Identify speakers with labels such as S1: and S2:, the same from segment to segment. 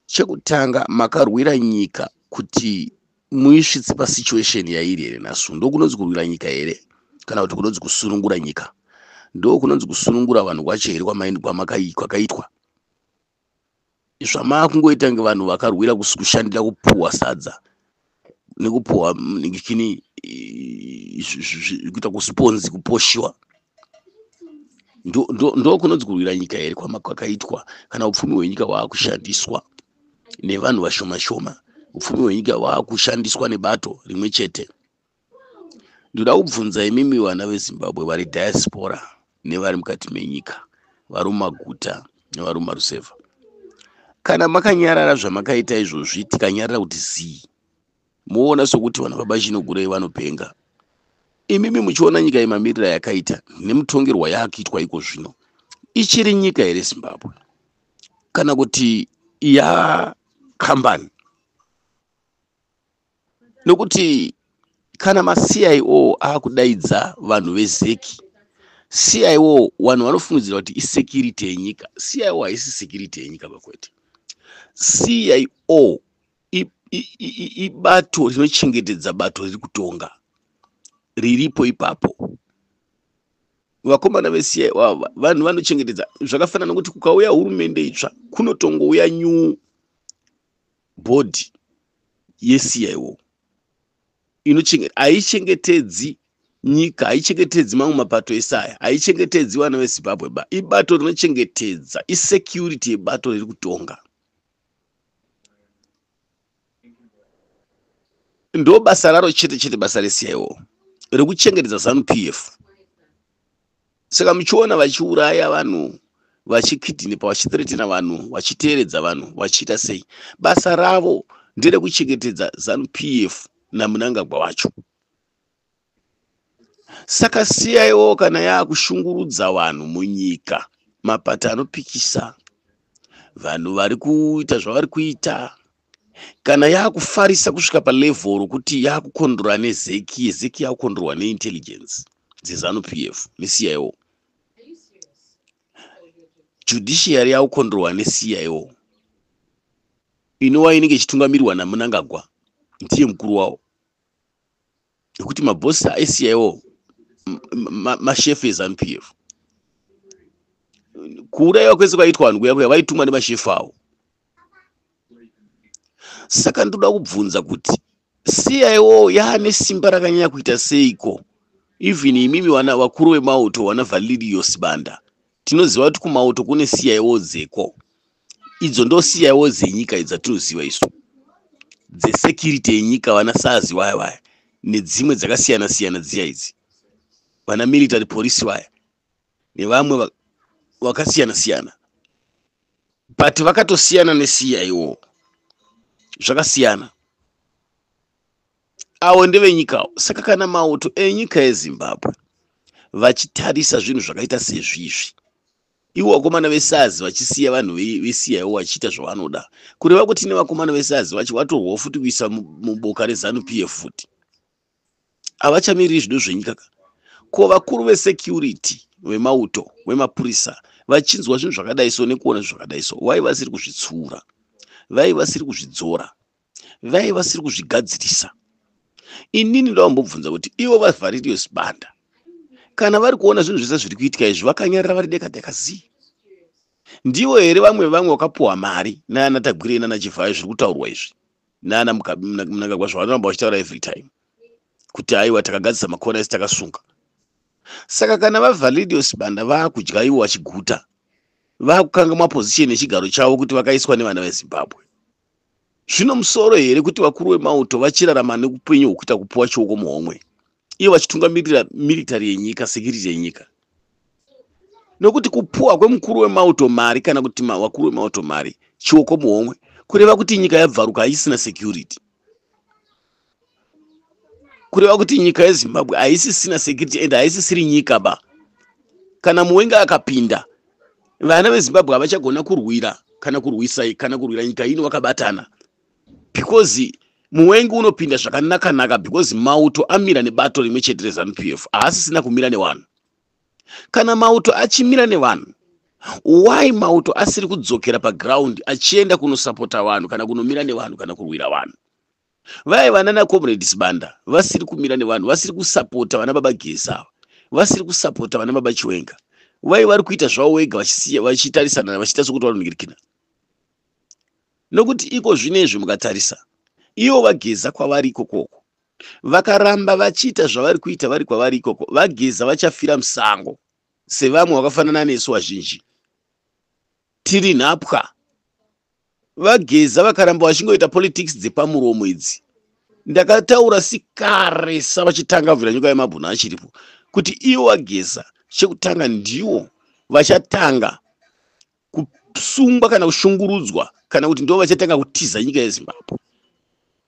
S1: chekutanga makarwira nyika kuti muisvitse pasituation yairi here nhasi ndo kunonzi kurwira nyika here kana kuti kunonzi kusunungura nyika ndo kunonzi kusunungura vanhu kwacho here kwakaitwa zvamaakungoita nge vanhu vakarwira kushandira kupuhwa sadza nekupuhwa kini kuita kusponzi kuposhiwa ndokunonzi kurwira nyika here kwakaitwa kana upfumi hwenyika hwaakushandiswa nevanhu vashoma shoma upfumi hwenyika hwaakushandiswa nebato rimwe chete ndoda kubvunza imimi vana vezimbabwe vari diaspora nevari mukati menyika vari mumaguta nevari mumarusevha kana makanyarara zvamakaita izvozvi tikanyarara kuti zii moona sokuti vana baba chinogurei vanopenga imimi muchiona nyika yemamirira yakaita nemutongerwa yaakuitwa iko zvino ichiri nyika here zimbabwe kana kuti yakambani nokuti kana maCIO akudaidza vanhu vezeki CIO vanhu vanofungidzira kuti isecurity yenyika CIO haisi security yenyika vakwete CIO ibato rinochengetedza bato riri kutonga riripo ipapo vakomana vesiya ivava vanhu vanochengetedza zvakafanana nokuti kukauya hurumende itsva kunotongouya nyuu bhodhi yeCIO haichengetedzi nyika haichengetedzi mamwe mapato ese aya haichengetedzi vana vezimbabwe ba ibato rinochengetedza isecurity yebato riri kutonga ndo basa raro chete chete basa reCIO rekuchengetedza zanu pf saka muchiona vachiuraya vanhu vachikidhinepa vachithiretina vanhu vachiteeredza vanhu vachiita sei basa ravo nderekuchengetedza zanu p f namunangagwa wacho saka siyaiwo kana yaakushungurudza vanhu munyika mapata anopikisa vanhu vari kuita zvavari kuita kana yakufarisa kusvika palevel rokuti yakukondrora nezeki yezeki yakukondrorwa neintelligence dzezanu p f necio judiciary yakukondrorwa necio inova inenge ichitungamirwa namunangagwa ndiye mukuru wawo nekuti mabhosi aisiyaiwo mashefu ezanu p f kuuraiwa kwese kwaitwa vanhu kuya kuya vaitumwa nemashefu avo saka ndoda kubvunza kuti cio yaane simba rakanyanya kuita seiko even imimi wana vakuru vemauto wana valirios banda tinoziva kuti kumauto kune cio dzeko idzo ndosiyaiwo dzenyika idzi dzatinoziva isu dzesekiriti yenyika vana sazi vaya vaya nedzimwe dzakasiyana siyana dziya idzi vana military police vaya nevamwe vakasiyana siyana but vakatosiyana nesiya iwo zvakasiyana avo ndevenyikawo saka kana mauto enyika yezimbabwe vachitarisa zvinhu zvakaita sezvizvi ivo vakomana vesazi vachisiya vanhu vesiya ivo vachiita zvavanoda kureva kuti nevakomana vesazi vacho vatorwawo futi kuisa muboka rezanu pf futi havachamiriri zvido zvenyika ka ko vakuru vesecurity vemauto vemapurisa vachinzwa zvinhu zvakadai so nekuona zvinhu zvakadai so wai vasiri kuzvitsura vai vasiri kuzvidzora vaive vasiri kuzvigadzirisa inini ndavambobvunza kuti ivo vavharirio sibanda kana vari kuona zvinhu zvese zviri kuitika izvi vakanyarira vari deka deka zii ndivo here vamwe vamwe vakapuwa mari naana tagwirei nana chivhayo zviri kutaurwa izvi naana munangagwa zvavanoramba vachitaura every time kuti aiwa takagadzisa makona esi takasunga saka kana vavhalidio sibanda vaakudya ivo vachiguta vaakukanga maposition echigaro chavo kuti vakaiswa nevana vezimbabwe zvino musoro here kuti vakuru vemauto vachirarama neupenyu hwekuita kupiwa chioko muhomwe iyo vachitungamirira miritari yenyika sekiriti yenyika nokuti kupuwa kwemukuru wemauto mari kana kuti vakuru vemauto mari chioko muhomwe kureva kuti nyika yabvaruka haisina security kureva kuti nyika yezimbabwe haisisina security and haisisiri nyika ba kana muwenge akapinda vana vezimbabwe havachagona kurwira kana kurwisa kana kurwira nyika ino vakabatana because muwengi unopinda zvakanakanaka because mauto amira nebato rimwe chete rezanup f haasisina kumira nevanhu kana mauto achimira nevanhu why mauto asiri kudzokera paground achienda kunosapota vanhu kana kunomira nevanhu kana kurwira vanhu vaiva nana comrade sibanda vasiri kumira nevanhu vasiri kusapota vana baba gesi ava vasiri kusapota vana baba chiwenga vai vari kuita zvavo vega vachitarisana vachiita sokuti vanonirikina nokuti iko zvino izvi mukatarisa ivo vageza kwavari ikokoko vakaramba vachiita zvavari kuita vari kwavari ikoko vageza vachafira musango sevamwe vakafanana nesu vazhinji Tiri nhapwa. VaGeza vakaramba vachingoita politics dzepamuromo idzi. Ndakataura sikare savachitanga Vhiranyuka Yemabhuna achiripo kuti ivo VaGeza chekutanga ndiwo vachatanga kusungwa kana kushungurudzwa kana kuti ndivo vachatanga kutiza nyika yeZimbabwe.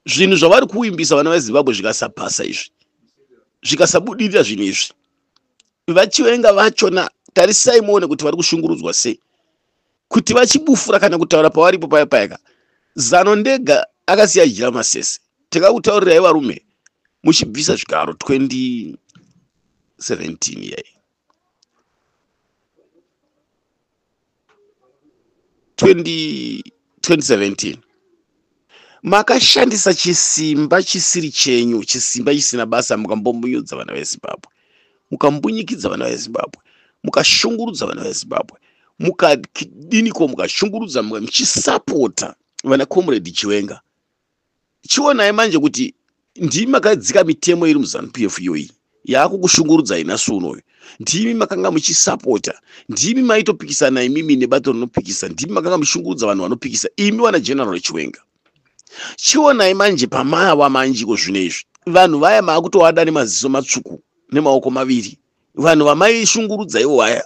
S1: Zvinhu zvavari kuvimbisa vana veZimbabwe zvikasabhasa izvi, zvikasabudirira zvinhu izvi, vachivenga vachona tarisai muone kuti vari kushungurudzwa sei kuti vachibufura kana kutaura pawaripo paya payaka zano ndega akasiya jira masese takakutaurirai varume muchibvisa zvigaro 2017 yai 2017 makashandisa chisimba chisiri chenyu chisimba chisina basa mukambomunyudza vana vezimbabwe mukambunyikidza vana vezimbabwe mukashungurudza vana vezimbabwe mukadiniko mukashungurudza muchisapota vana comrade chiwenga chionai manje kuti ndimi makadzika mitemo iri muzanup f iyoyi yaakukushungurudzai nhasi unoyu ndimi makanga muchisapota ndimi maitopikisana imimi nebato rinopikisa ndimi makanga muchishungurudza vanhu vanopikisa imi wana general chiwenga chionai manje pamava manjiko zvino izvi vanhu vaya maakutoada nemaziso matsvuku nemaoko maviri vanhu vamaishungurudza ivo vaya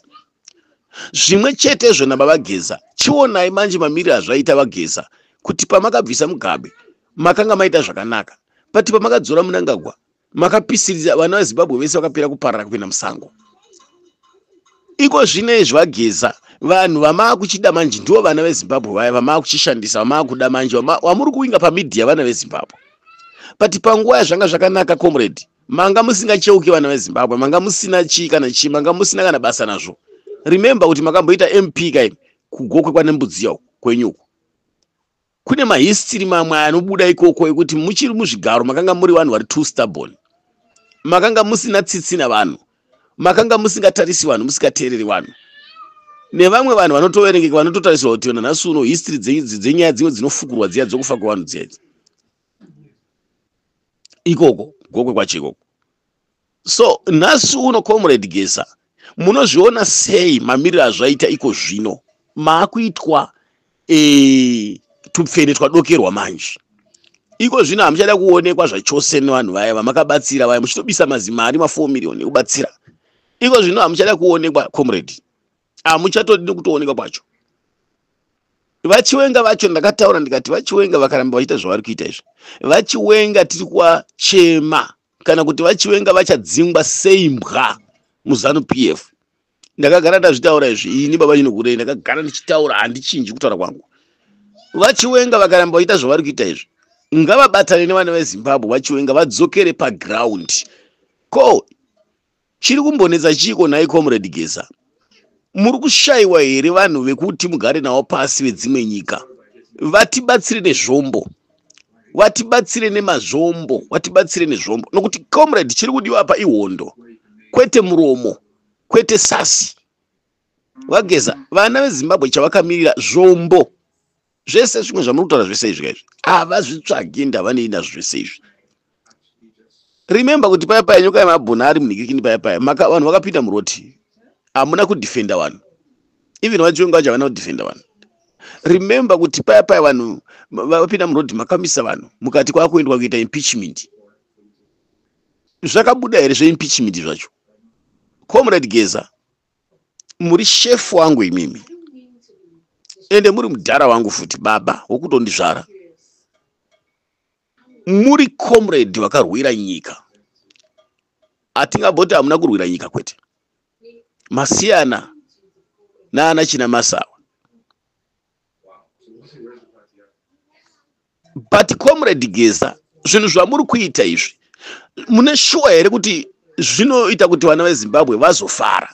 S1: zvimwe chetezvo nababa geza chionai manje mamiri azvaita vageza kuti pamakabvisa mugabe makanga maita zvakanaka but pamakadzora munangagwa makapisiriza vana vezimbabwe vese vakapera kuparara kupinda musango iko zvino izvi vageza vanhu vamaakuchida manje ndivo vana vezimbabwe vaya vamaakuchishandisa vamaakuda manje wamuri kuinga pamidhiya vana vezimbabwe but panguva yazvanga zvakanaka comrade manga musingacheuke vana vezimbabwe manga musina chii kana chii manga musina kana basa nazvo remembe kuti makamboita mp kaimi kugokwe kwane mbudziya uku kwenyuku kune mahistiri mamwe anobuda ikoko ekuti muchiri muzvigaro makanga muri vanhu vari two stubborn makanga musina tsitsi navanhu makanga musingatarisi vanhu musikateereri vanhu nevamwe vanhu vanotoverengeka vanototarisirwa kuti nanhasi uno histiri dzenyaya dzimwe dzinofukurwa dziya dzokufa kwevanhu dziya idzi ikoko gokwe kwacho ikoko so nhasi uno comrade gesa munozviona sei mamiriro azvaita iko zvino maakuitwa e, tupfene twadokerwa manje iko zvino hamuchada kuonekwa zvachose nevanhu vaya vamakabatsira vaya muchitobisa mazimari ma4 miriyoni ekubatsira iko zvino hamuchada kuonekwa comrade hamuchatodi nekutooneka kwacho vachiwenga vacho ndakataura ndikati vachiwenga vakaramba vachiita zvavari kuita izvi vachiwenga tiri kuwachema kana kuti vachiwenga vachadzingwa sei mbwa muzanu p f ndakagara ndazvitaura izvi ini baba inokurei ndakagara ndichitaura handichinji kutaura kwangu vachiwenga vakaramba vachiita zvavari kuita izvi ngavabatane nevana vezimbabwe vachiwenga vadzokere pagraundi ko Chiri kumbonetsa chiiko nhai Comrade Geza? Muri kushaiwa here vanhu vekuti mugare navo pasi vedzimwe nyika? Vatibatsire nezvombo. Vatibatsire nemazvombo, vatibatsire nezvombo. Nokuti Comrade chiri kudiwa apa ihondo. Kwete muromo, kwete sasi. Vageza, vana veZimbabwe chavakamirira zvombo. zvese zvimwe zvamurikutaura zvese izvi kaizvi havazvitsvagi ende havanei nazvo zvese izvi remember kuti paya paya nyoka yemabhuna ari munhikikini paya paya maka vanhu vakapinda muroti hamuna kudefenda vanhu even vachiwenga vacho havana kudefenda vanhu remember kuti paya paya vanhu vapinda murodi makamisa vanhu mukati kwakuendwa kuita impeachment zvakabuda here zveimpeachment zvacho comrade geza muri shefu wangu imimi ende muri mudhara wangu futi baba wokutondizvara muri comrade vakarwira nyika hatingaboti hamuna kurwira nyika kwete masiyana naana china masawa but comrade geza zvinhu zvamuri kuita izvi mune shuwa here kuti zvinoita kuti vana vezimbabwe vazofara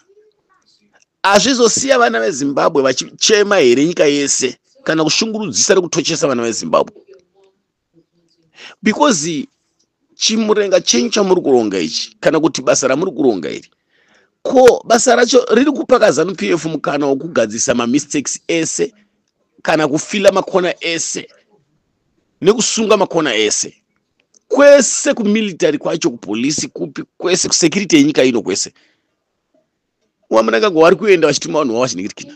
S1: hazvizosiya vana vezimbabwe vachichema here nyika yese kana kushungurudzisa rekutochesa vana vezimbabwe because chimurenga chenyu chamuri kuronga ichi kana kuti basa ramuri kuronga iri ko basa racho riri kupa kazanu p f mukana wokugadzirisa mamistakes ese kana kufila makona ese nekusunga makona ese kwese kumilitary kwacho kupolisi kupi kwese kusecurity yenyika ino kwese wamunangagwa wari kuenda vachituma vanhu vavo vachiningirikina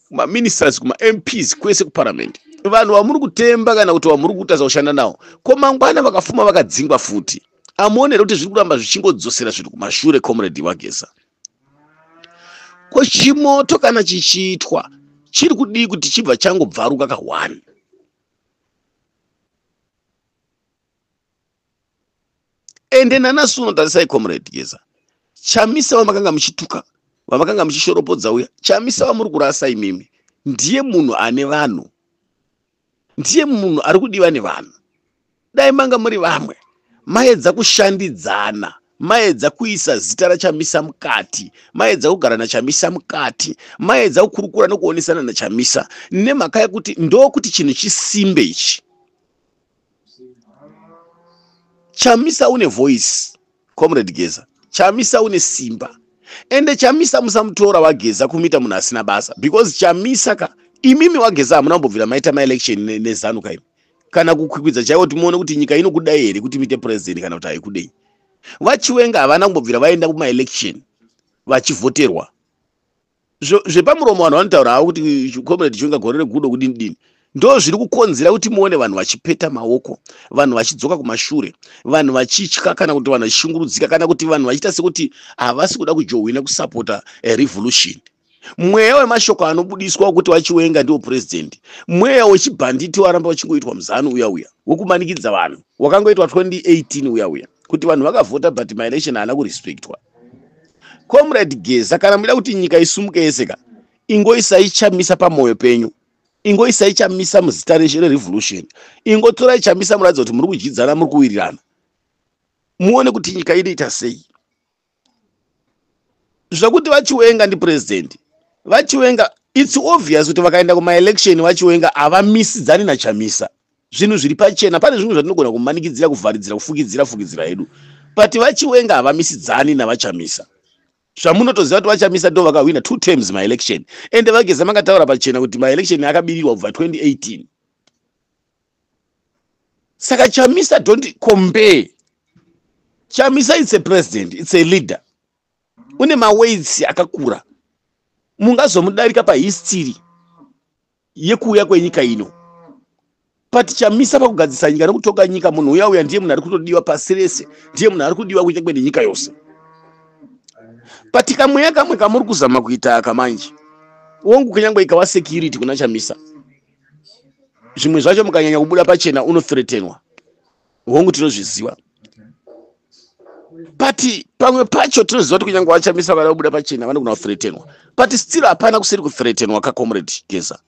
S1: kumaministers kumamps kwese kuparamende vanhu vamuri kutemba kana kuti vamuri kutadza kushanda nawo ko mangwana vakafuma vakadzingwa futi amuonere kuti zviri kuramba zvichingodzosera zvinhu kumashure comrade wagesa ko chimoto kana chichiitwa chiri kudii kuti chibva changobvaruka kahwani ende nanasi uno tarisai comrade geza chamisa vamakanga muchituka vamakanga muchishoropodza uya chamisa vamuri kurasa imimi ndiye munhu ane vanhu ndiye munhu ari kudiva nevanhu dai manga muri vamwe maedza kushandidzana maedza kuisa zita rachamisa mukati maedza kugara nachamisa mukati maedza kukurukura nokuonesana nachamisa nemhaka yekuti ndokuti chinhu chisimbe ichi chamisa une voice comrade geza chamisa une simba ende chamisa musamutora wageza kumuita munhu asina basa because chamisa ka imimi wageza hamuna kumbobvira maita maelection nezanu ne kaimi kana kukwikwidza chaiwo timuone kuti nyika inokudai here kuti muite president kana kuti haikudei vachiwenga havana kumbobvira vaenda kumaelection vachivhoterwa zvo- zvepamuromo vanhu vanotaura havo kuti comrade chonga gore regudo kudini dini ndo zviri kukonzera kuti muone vanhu vachipeta maoko vanhu vachidzoka kumashure vanhu vachitya kana kuti vanhu vachishungurudzika kana kuti vanhu vachiita sekuti havasi kuda kujohwina kusapota eh, revolution mweya wemashoko anobudiswa wekuti vachiwenga ndiwo purezidhendi mweya wechibhanditi waramba uchingoitwa muzanu uya uya wekumanikidza vanhu wakangoitwa 2018 uya uya kuti vanhu vakavhota but maelection haana kurespectwa comrade geza kana muchida kuti nyika isumuke yese ka ingoisai chamisa pamwoyo penyu ingoisai chamisa muzita reshe rerevolution ingotorai chamisa muratidza kuti muri kudyidzana muri kuwirirana muone kuti nyika inoita sei zvekuti vachiwenga ndipresident vachiwenga its obvious kuti vakaenda kumaelection vachiwenga havamisidzani nachamisa zvinhu zviri pachena pane zvimwe zvatinogona kumanikidzira kuvharidzira kufukidzira fukidzira hedu but vachiwenga havamisidzani navachamisa zvamunotoziva kuti vachamisa ndo vakahwina two terms maelection ende vageza makataura pachena kuti maelection akabirirwa kubva 2018 saka chamisa don't compare chamisa it's a president it's a leader une maweights akakura mungazomudarika pahistory yekuuya kwenyika ino patichamisa pakugadzisa nyika nekutonga nyika munhu uya uya ndiye munhu ari kutodiwa pasi rese ndiye munhu ari kudiwa kunyangwe nenyika yose but kamweya kamwe kamuri kuzama kuita aka manje wongu kunyangwe ikava security kuna chamisa zvimwe zvacho mukanyanya kubuda pachena unothretenwa hongu tinozviziva but pamwe pacho tinoziva kuti kunyange vachamisa vada kubuda pachena vanogona kuthretenwa but still hapana kusiri kuthretenwa kacomrade geza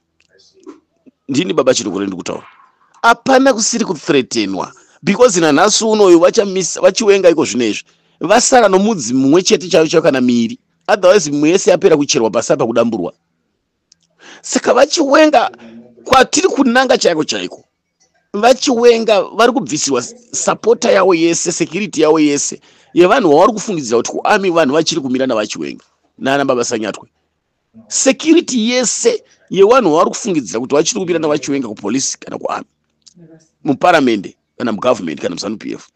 S1: ndini baba chirukure ndi kutaura hapana kusiri kuthretenwa because nanhasi unoyu vachamisa vachiwenga iko zvino izvi vasara nomudzi mumwe chete chayo chayo kana miiri otherwise mimwe yese yapera kucherwa pasi apa kudamburwa saka vachiwenga kwatiri kunanga chaiko chaiko vachiwenga vari kubvisirwa sapota yavo yese security yavo yese yevanhu vavari kufungidzira kuti kuami vanhu vachiri kumira navachiwenga nana baba sanyatwe security yese yevanhu vavari kufungidzira kuti vachiri kumira navachiwenga kupolisi kana kuami muparamende kana mugovernment kana muzanup f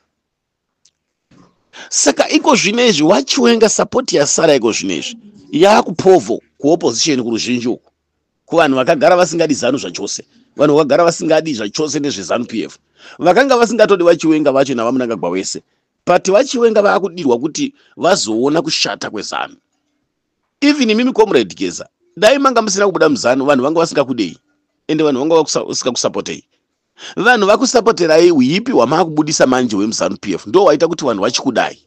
S1: saka iko zvino izvi wachiwenga support yasara iko zvino izvi yakupovo kuopposition kuruzhinji uku kuvanhu vakagara vasingadi zanu zvachose vanhu vakagara vasingadi zvachose nezvezanu p f vakanga vasingatodi vachiwenga vacho navamunangagwa wese but vachiwenga vaakudirwa kuti vazoona kushata kwezanu even imimi comrade geza dai manga musina kubuda muzanu vanhu vanga vasingakudei ende vanhu vanga vasikakusapotei vanhu vakusapoterai uyipi hwamaakubudisa manje hwemuzanu p f ndo waita kuti vanhu vachikudai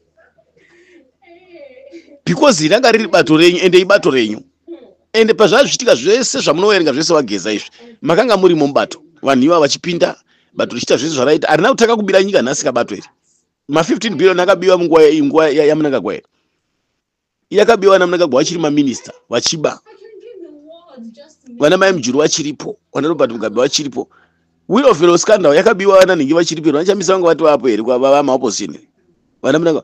S1: because ranga riri bato renyu ende ibato renyu ende pazvazviitika zvese zvamunoverenga zvese vageza izvi makanga murimo mubato vanhu iva vachipinda bato richiita zvese zvaraita harina kutanga kubira nyika nhasi kabato iri ma 15 billion akabiwa munguva yamunangagwa iri yakabiwa ana mnangagwa vachiri maminista vachiba vana mai mujuru vachiripo vana robert mugabe vachiripo will of fellow scandal yakabiwa vana nhingi vachiripo here vanachamisa vanga vati vapo here vava maopposition here vana mnanga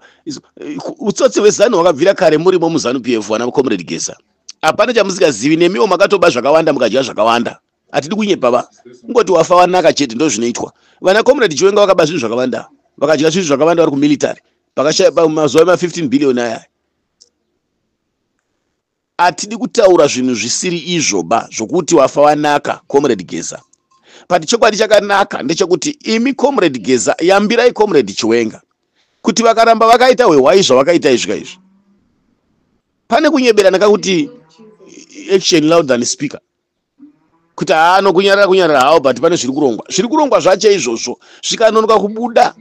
S1: utsotsi hwezanu hwakabvira kare murimo muzanu p f vana comrade gesa hapana chamusikazivi nemiwo makatoba zvakawanda mukadya zvakawanda hatidi kunyepa va kungoti wafa wanaka chete ndozvinoitwa vana comrade chiwenga vakaba zvinhu zvakavanda vakadya zvinhu zvakavanda vari kumilitary pakashaya pamazuva ema 15 billion aya hatidi kutaura zvinhu zvisiri izvo ba zvokuti wafa wanaka comrade geza but chokwadi chakanaka ndechekuti imi comrade geza yambirai comrade chiwenga kuti vakaramba vakaita hwehwai zvavakaita izvika izvi pane kunyeberana kakuti action loud than speaker kuti haa nokunyarara kunyarara hawo but pane zviri kurongwa zviri kurongwa zvacho izvozvo zvikanonoka kubuda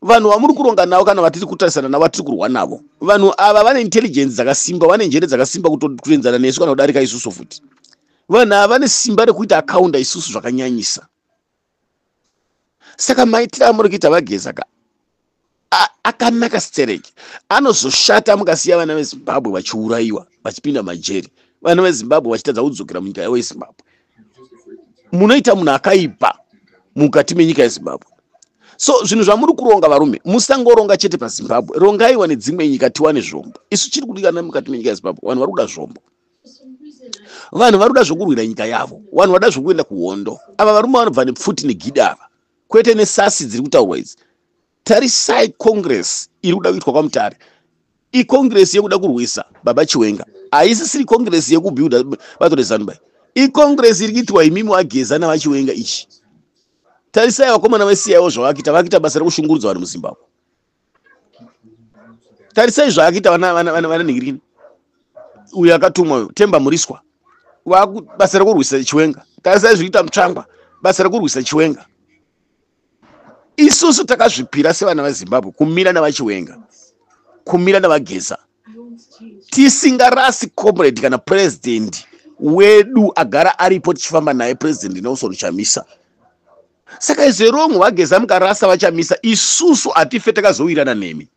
S1: vanhu vamuri kuronga navo kana vatiri kutarisana navo vatiri kurwa navo vanhu ava vane intelligence dzakasimba vane njere dzakasimba kutoenzana nesu kana kudarika isusu futi vanhu ava vane simba rekuita akaunda isusu zvakanyanyisa saka maitiro amuri kuita vageza ka akanaka stereki anozoshata mukasiya vana vezimbabwe vachiurayiwa vachipinda majeri vana vezimbabwe vachitadza kudzokera munyika yavo yezimbabwe munoita munhu akaipa mukati menyika yezimbabwe so zvinhu zvamuri kuronga varume musangoronga chete pazimbabwe rongaiwa nedzimwe nyika tiwane zvombo isu chiri kudikana mukati menyika yezimbabwe vanhu vari kuda zvombo vanhu vari kuda zvokurwira nyika yavo vanhu vada zvokuenda kuhondo ava varume vanobva nepfuti negidi ava kwete nesasi dziri kutaurwa idzi tarisai congress iri kuda kuitwa kwamutare icongress yekuda kurwisa baba chiwenga haisisiri congress yekubuilda bato rezanuba icongress iri kuitwa imimi wageza navachiwenga ichi tarisai vakomana vesiyawo zvavakita vakita basa rekushungurudza vanhu muzimbabwe tarisai zvaakaita vananhingirikini uyo akatumwa uyo temba muriswa basa rekurwisa chiwenga tarisai zvikuita mutsvangwa basa rekurwisa chiwenga isusu takazvipira sevana vezimbabwe kumira nevachiwenga kumira nevageza tisingarasi comrade kana purezidendi wedu agara aripo tichifamba naye purezidendi nelson chamisa Saka izvo wrong wageza mukarasa vachamisa isusu hatife takazowirana nemi.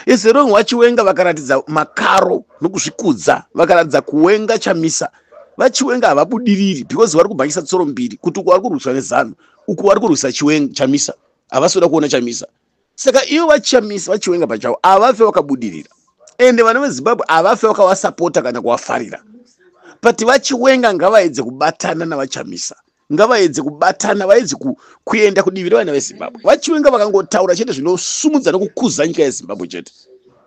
S1: Is wrong wachiwenga vakaratidza makaro nokuzvikudza vakaratidza kuwenga chamisa vachiwenga havabudiriri because vari kubhangisa tsoro mbiri kuti uku vari kurwiswa nezanu uku vari kurwisa chiwenga chamisa havasi kuda kuona chamisa saka ivo vachamisa vachiwenga pachavo avafe vakabudirira ende vana vezimbabwe avafe vakavasapota kana kuvafarira but vachiwenga ngavaedze kubatana navachamisa ngavaedze kubatana vaedze kuenda kudivi revana vezimbabwe vachiwenga vakangotaura chete zvinosumudza nokukuza nyika yezimbabwe chete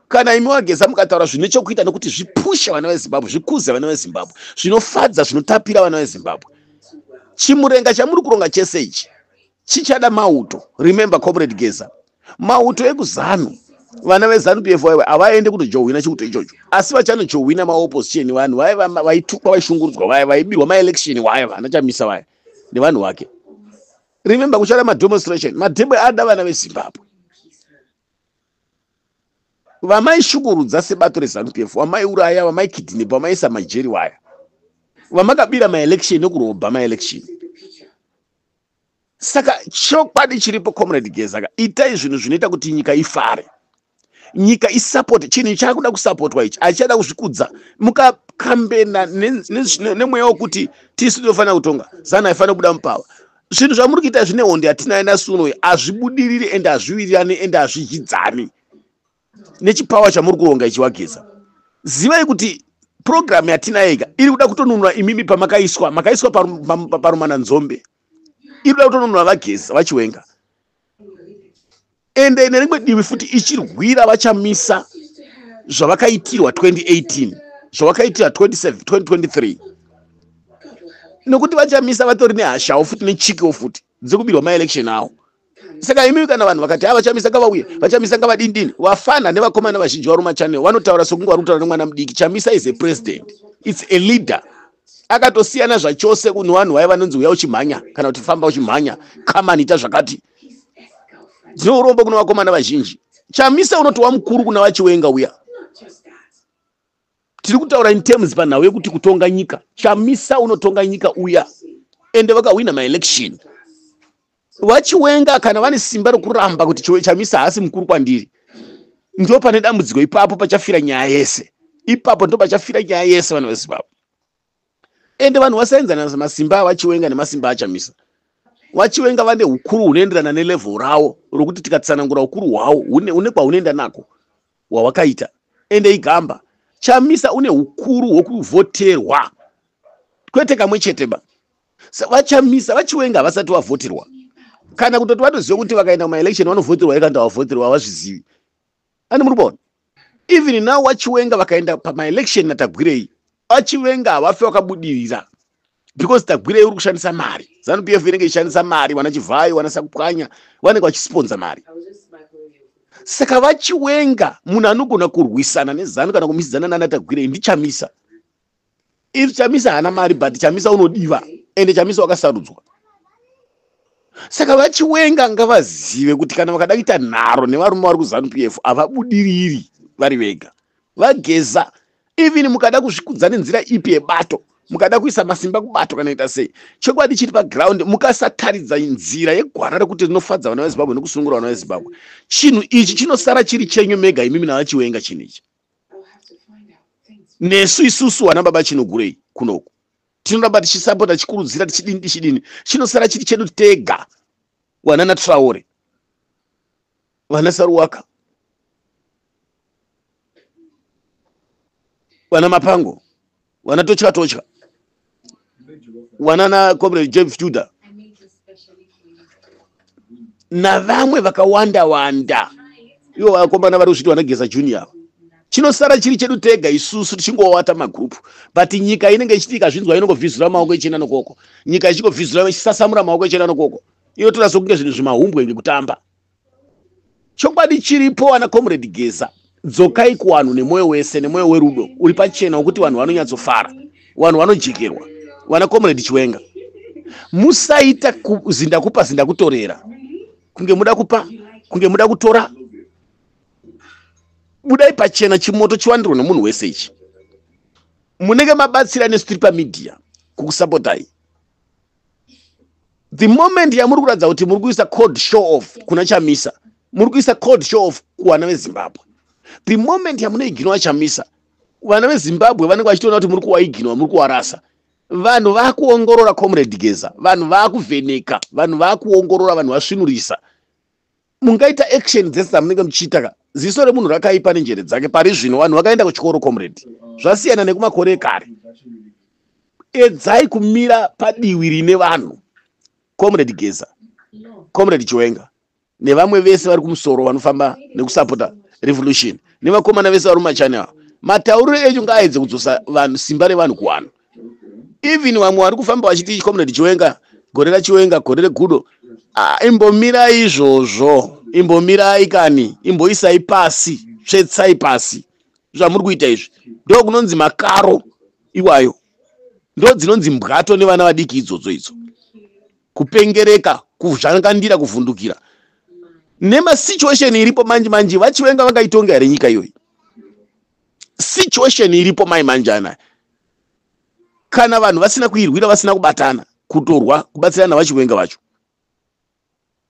S1: kana imi wageza mukataura zvine chokuita nokuti zvipushe vana vezimbabwe zvikuze vana vezimbabwe zvinofadza zvinotapira vana vezimbabwe chimurenga chamuri kuronga chese ichi chichada mauto remember comrade geza mauto ekuzanu vana vezanu pf vaive havaende kutojohwina chiuto ichocho asi vachanojohwina maopposition vanhu vaye vaitukwa vaishungurudzwa vaye vaibirwa maelection waye vana chamisa vaye nevanhu vake remember kuchada mademonstration madhebwe ada vana vezimbabwe vamaishukurudza sebato rezanu pf vamaiuraya vamaikidhinepa vamaisa majeri waya vamakabira maelection ekurobha maelection saka chokwadi chiripo comrade geza ka itai zvinhu zvinoita kuti nyika ifare nyika isapoti chinhu chaakuda kusapotwa ichi achichada kuzvikudza mukakambena nemweya wekuti tisu tinofanira kutonga zanu haifanira kubuda mupava zvinhu zvamuri kuita zvine hondi yatinayo nasunoyi hazvibudiriri ende hazviwirirani ende hazvizhidzani nechipawa chamuri kuronga ichi wageza zivai kuti purogiramu yatinayeka iri kuda kutonunura imimi pamakaiswa makaiswa parumana nzombe iri kuda kutonunura vageza vachiwenga ende nerimwe divi futi ichirwira vachamisa zvavakaitirwa 2018 zvavakaitira 2023 nekuti vachamisa vatori nehashawo futi nechikiwo futi dzekubirwa maelection awo saka imi kana vanhu vakati ha vachamisa ngavauye vachamisa ngavadindini vafana nevakomana vazhinji vari machannel vanotaura sokunge vari kutaura nemwana mudiki chamisa is a president its a leader akatosiyana zvachose kune vanhu vaye vanonzi uya uchimhanya kana kuti famba uchimhanya kamani ita zvakati dzine urombo kune vakomana vazhinji chamisa unotowa mukuru kuna vachiwenga uya tiri kutaura in terms panhau yekuti kutonga nyika chamisa unotonga nyika uya ende vakahwina maelection vachiwenga kana vane simba rokuramba kuti chiwe chamisa haasi mukuru kwandiri ndo pane dambudziko ipapo pachafira nyaya yese ipapo ndo pachafira nyaya yese vana vezimbabwe ende vanhu vasaenzana masimba avachiwenga nemasimba achamisa vachiwenga vane ukuru hunoenderana nelevel ravo rokuti tikatsanangura ukuru hwawo une kwahunoenda nako hwawakaita ende igamba chamisa une ukuru hwokuvhoterwa kwete kamwe chete ba vachamisa vachiwenga havasati vavhoterwa kana kutoti vatoziva kuti vakaenda kumaelection vanovhoterwa ekanda vavhoterwa havazvizivi ani muri kuona even now vachiwenga vakaenda pamaelection natagwirei vachiwenga havafe vakabudirira because tagwirei uri kushandisa mari zanup f inenge ichishandisa mari vana chivhayo vana sakupwanya vanenge vachisponza mari saka vachiwenga munhu anogona kurwisana nezanu kana kumisidzana nana tagwirei ndichamisa if chamisa haana mari but chamisa unodiva ende chamisa wakasarudzwa saka vachiwenga ngavazive kuti kana vakada kuita nharo nevarume vari kuzanu p f havabudiriri vari vega vageza even mukada kuzvikudza nenzira ipi yebato mukada kuisa masimba kubato kana ita sei chokwadi chiri paground mukasataridza nzira yegwara rekuti rinofadza vana vezimbabwe nekusunungura vana vezimbabwe chinhu ichi chinosara chiri chenyu mega imimi navachiwenga chinhu ichi nesu isusu vana baba chinogurei kunoku tinoramba tichisapota tichikurudzira tichidini tichidini chinosara chiri chedu tega wanana traore vana saruwaka vana mapango wana totya totya wana na comrade james tudor navamwe vakawanda wanda ivo vakomana vari kuzviti vanageza junior ava chinosara chiri chedu tega isusu tichingowata magrupu but nyika inenge ichiti ikazvinzwa inongovhizura maoko ichienda nokoko nyika ichingovhizura ichisasamura maoko ichienda nokoko inotoratidza kunge zvinhu zvimahumbwe ngekutamba chokwadi chiripo ana comrade geza dzokai kuwanhu nemwoyo wese nemwoyo werudo uri pachena wokuti vanhu vanonyatsofara vanhu vanojekerwa vana comrade chiwenga musaita zindakupa zindakutorera kunge muda kupa kunge muda kutora budai pachena chimoto chiwandirwe nomunhu wese ichi munenge mabatsira nesu tiri pamedia kukusapotai the moment yamuri kuratidza kuti muri kuisa cold show off kuna chamisa muri kuisa cold show off kuvana vezimbabwe the moment yamunoiginwa chamisa vana vezimbabwe vanenge vachitoona kuti muri kuwaiginwa muri kuwarasa vanhu vakuongorora comrade geza vanhu vakuvheneka vanhu vakuongorora vanhu vasvinurisa mungaita action dzese dzamunenge muchiita ka ziso remunhu rakaipa nenjere dzake pari zvino vanhu vakaenda kuchikoro comrade zvasiyana nekumakore ekare edzai kumira padiwi rine vanhu comrade geza comrade chiwenga nevamwe vese vari kumusoro vanofamba nekusapota revolution nevakomana vese vari mumachani avo matauriro enyu ngaaedze kudzosa vanhu simba revanhu kuwanhu even vamwe vari kufamba vachiti comrade chiwenga gore rachiwenga gore regudo ah, imbomirai izvozvo imbomirai kani imboisai pasi svetsai pasi zvamuri kuita izvi ndo kunonzi makaro iwayo ndo dzinonzi mbwato nevana vadiki idzodzo idzo kupengereka kuzvangandira kuvhundukira nemasituation iripo manje manje vachiwenga vangaitonga here nyika iyoyi situation iripo mai manjana kana vanhu vasina kuirwira vasina kubatana kutorwa kubatsirana vachiwenga vacho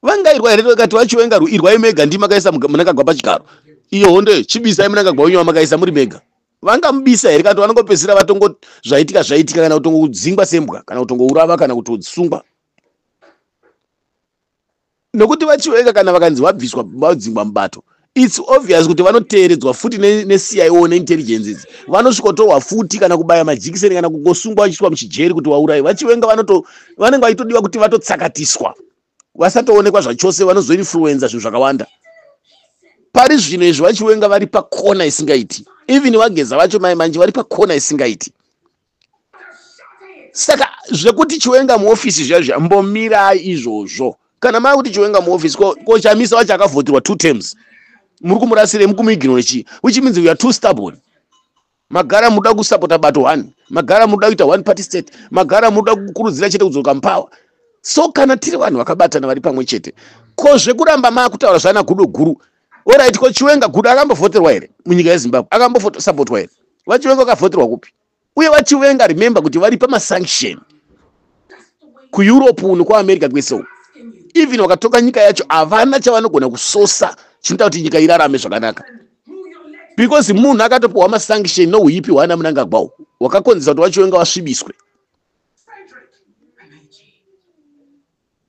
S1: vangairwa here vakati vachiwenga irwai mega ndi makaisa munangagwa pachigaro iyo hondo chibisai munangagwa wenyu vamakaisa muri mega vangamubisa here kana kuti vanongopedzisira vatongo zvaitika zvaitika kana kutongodzingwa sembwa kana kutongourava kana kutosungwa nokuti vachiweka kana vakanzi vabviswa vadzingwa mubato its obvious kuti vanoteeredzwa futi necio ne neintelligence idzi vanosvikotorwa futi kana kubaya majikiseni kana kungosungwa vachiiswa muchijeri kuti vaurayi vachiwenga vanoto vanenge vachitodiwa kuti vatotsakatiswa vasatoonekwa zvachose vanozoinfluenza zvinhu zvakawanda pari zvino izvi vachiwenga vari pakona isingaiti even vageza vacho mai manje vari pakona isingaiti saka zvekuti chiwenga muofisi zviya zviya mbomirai izvozvo kana mava kuti chiwenga muofisi ko, ko chamisa wacho akavhotirwa two terms muri kumurasirei mukumuignore chii which means we are too stubborn magara munoda kusapota bato one magara munoda kuita one party state magara munoda kukurudzira chete kudzoka mupawa so kana tiri vanhu vakabatana vari pamwe chete ko zvekuramba maakutaura zvana gudo guru Alright, ko Chiwenga Gudo akambovhoterwa here munyika yeZimbabwe? Akambosapotwa here? VaChiwenga vakavhoterwa kupi? Uye VaChiwenga remember kuti vari pamasanction kuEurope uno kwaAmerica kwese uko. Even vakatoka nyika yacho havana chavanogona kusosa chinoita kuti nyika irarame zvakanaka. Because munhu akatopiwa masanction nouipi hwaana Mnangagwa uwo wakakonzeresa kuti VaChiwenga vasvibiswe.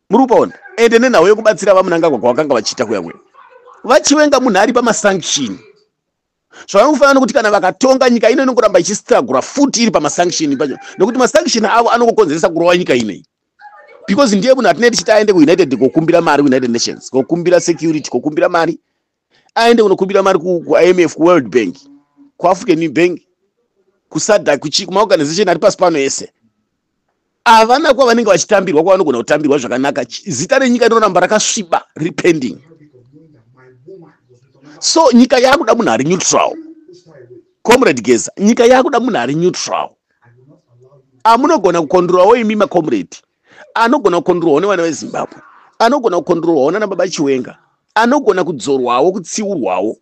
S1: muri kupaona ende nenhau yekubatsira vamunangagwa kwavakanga vachiita kuya kuya vachiwenga munhu ari pamasanction zvavanofanira kuti kana vakatonga nyika ino inongoramba ichistragura futi iri pamasanction pacho nekuti masanction avo anongokonzeresa kurova nyika inei because ndiye munhu atinei tichiti aende kuunited kokumbira mari united nations kokumbira security kokumbira mari aende kunokumbira mari kuimf kuworld bank kuafrican new bank kusada kuchii kumaorganization ari pasi pano ese havana kuva vanenge vachitambirwa kwavanogona kutambirwa zvakanaka zita renyika rinoramba rakasviba riri pending so nyika yaakuda munhu ari neutral comrade geza nyika yaakuda munhu ari neutral amunogona kukondurawo imi macomrade anogona kukondirwawo nevana vezimbabwe anogona kukondirwawo nana baba chiwenga anogona kudzorwawo kutsiurwawo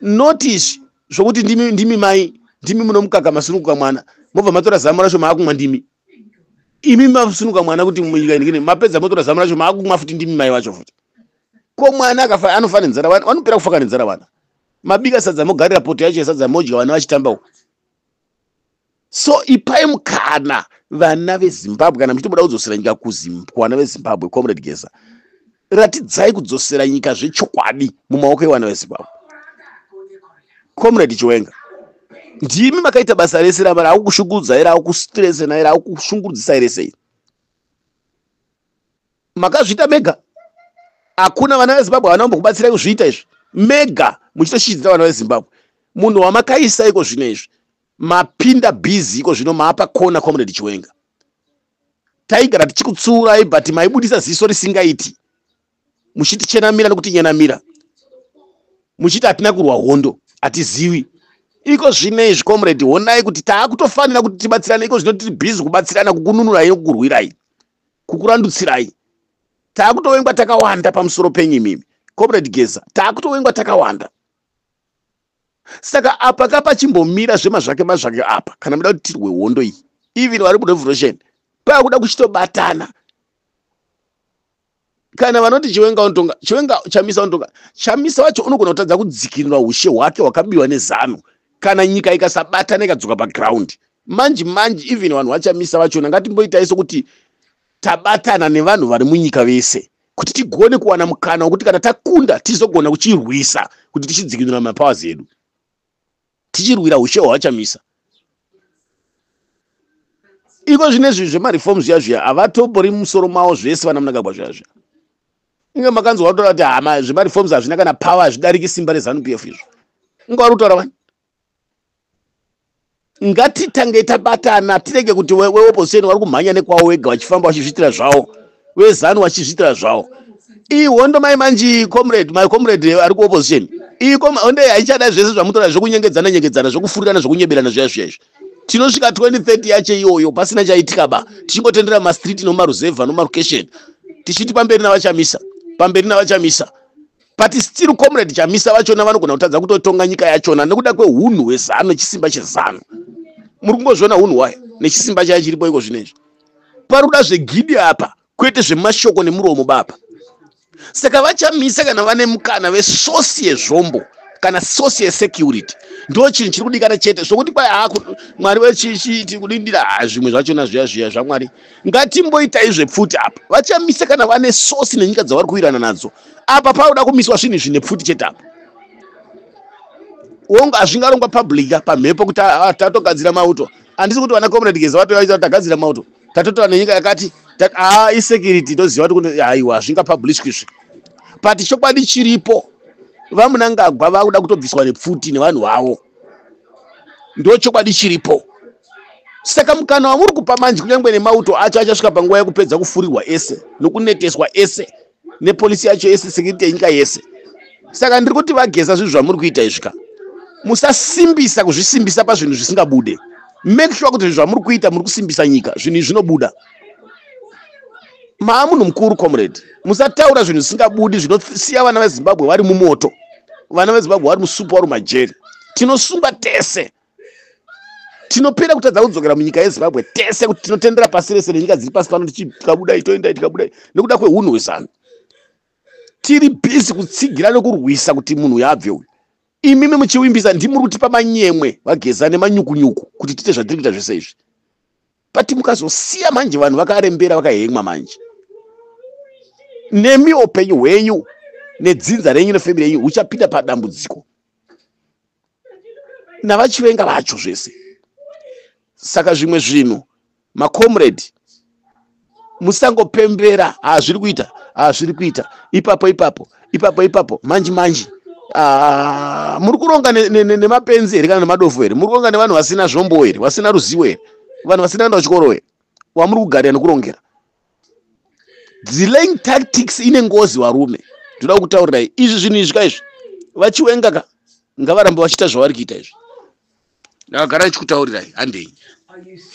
S1: not izvi zvokuti ndimi, ndimi mai ndimi munomukaka masunukuka mwana mobva matora zamu racho maakumwa ndimi imi masunuka mwana kuti munyika inigine mapedza motora zamu racho maakumwa futi ndimi mai vacho futi ko mwana anofana nenzara vana vanopera kufaka nenzara vana mabika sadza mogarira poto yacho yesadza modya vana vachitambawo so ipai mukana vana vezimbabwe kana muchitoboda kudzosera nyika kuvana vezimbabwe comrade geza ratidzai kudzosera nyika zvechokwadi mumaoko evana vezimbabwe comrade chiwenga ndimi makaita basa rese rava rava kushungurudza ira ava kustrese naira ava kushungurudzisa ire sei makazviita mega hakuna vana vezimbabwe havana kumbokubatsirai kuzviita izvi mega muchitoshidzira vana vezimbabwe munhu wamakaisa iko zvino izvi mapinda busy iko zvino maapa kona comrade chiwenga taigara tichikutsuurai but maibudisa ziso risingaiti muchitichenamira nekutinyenamira muchiti hatina kurwa hondo hatiziwi iko zvino izvi comrade honai kuti taakutofanira kuti tibatsirane iko zvino tiri busy kubatsirana kukununurai nokukurwirai kukurandutsirai taakutovengwa takawanda pamusoro penyu imimi comrade geza taakutovengwa takawanda saka apa ka pachimbomira zvemazvake mazvake apa kana muda kuti tirwe hondo iyi even vari murevolution pakuda kuchitobatana kana vanoti chiwenga unotonga chiwenga chamisa unotonga chamisa wacho unogona kutadza kudzikinura ushe hwake hwakabiwa nezanu kana nyika ikasabatana ikadzoka paground manje manje even vanhu vachamisa vachona ngatimboitai sokuti tabatana nevanhu vari munyika vese kuti tigone kuwana mukana wekuti kana takunda tizogona kuchirwisa kuti tichidzikinura mapowers edu tichirwira ushe hwavachamisa iko zvine zvinhu zvemareform zviya zviya havatobori musoro mavo zvese vana munangagwa zviya zviya inge makanzwa kutaura kuti hama zvemareforms hazvina kana power hazvidariki simba rezanup f izvo inga vari kutaura vani ngatitange tabatana tirege kuti weopposition vari kumhanya nekwawo wega vachifamba vachizviitira zvavo vezanu vachizviitira zvavo iyi hondo mai manji comrade my comrade ari kuopposition iyi hondo haichada zvese zvamutora zvekunyengedzana nyengedzana zvekufurirana zvekunyeberana zviya zviya izvi tinosvika 2030 yacho iyoyo pasina chaitika ba tichingotendera mastreet nomaruzevha nomarucation tichiti pamberi navachamisa pamberi navachamisa but still comrade chamisa vachona vanogona kutadza kutotonga nyika yachona nekuda kwehunhu hwezanu nechisimba chezanu muri kungozviona hunhu hwayo nechisimba chayo chiripo iko zvino izvi pari kuda zvegidi apa kwete zvemashoko nemuromo baba saka vachamisa kana vane mukana vesosi yezvombo kana sosi yesecurity ndo chinhu chiri kudikana chete zvokuti kwai mwari wechiti kudindira zvimwe zvachona zviya zviya zvamwari ngatimboitai zvepfuti apa vachamisa kana vane sosi nenyika dzavari kuwirana nadzo apa pauda kumiswa zvinhu izvi nepfuti chete apa wonga hazvingarongwa publica pamhepo kuti ah, ah, tatogadzira mauto handisi kuti vana comrade geza vape vaita kuti tagadzira mauto tatotora nenyika yakati aa ah, isecurity toziva kuti haiwa hazvinga publishwa izvi but chokwadi chiripo vamunangagwa vakuda kutobviswa nepfuti nevanhu vavo ndo chokwadi chiripo saka mukana wamuri kupa manje kunyange nemauto acho achasvika panguva yekupedza kufurirwa ese nokuneteswa ese nepolisi yacho yese sekiriti yenyika yese saka ndiri kuti vageza zvinhu zvamuri kuita izvi ka musasimbisa kuzvisimbisa pazvinhu zvisingabude make sure kuti zvinhu zvamuri kuita muri kusimbisa nyika zvinhu izvi zvinobuda maa munhu mukuru comrade musataura zvinhu zvisingabudi zvinosiya vana vezimbabwe vari mumoto vana vezimbabwe vari musupa vari mumajeri tinosunga tese tinopera kutadza kudzokera munyika yezimbabwe tese kuti tinotendera pasi rese nenyika dziri pasi pano tichikabudai toendai tikabudai nekuda kweunhu hwezanu tiri bhizi kutsigira nekurwisa kuti munhu uyo abve uyu imimi muchiwimbisa ndimuri kutipa manyemwe vageza nemanyukunyuku kuti tiite zvatiri kuita zvese izvi but mukazosiya manje vanhu vakarembera vakahengwa manje nemi upenyu hwenyu nedzinza renyu nefamiri yenyu huchapinda padambudziko navachivenga vacho zvese saka zvimwe zvinhu macomrade musangopembera hazviri kuita hazviri kuita ipapo ipapo ipapo ipapo manji manji ah, muri kuronga nemapenzi here kana nemadofo here muri kuronga nevanhu vasina zvombo here vasina ruzivo here vanhu vasina kuenda kuchikoro here wamuri kugarira nekurongera delaying tactics ine ngozi varume ndoda kutaurirai izvi zvinhu izvi ka izvi vachiwenga ka ngavarambe vachiita zvavari kuita izvi ndakagara ndichikutaurirai handei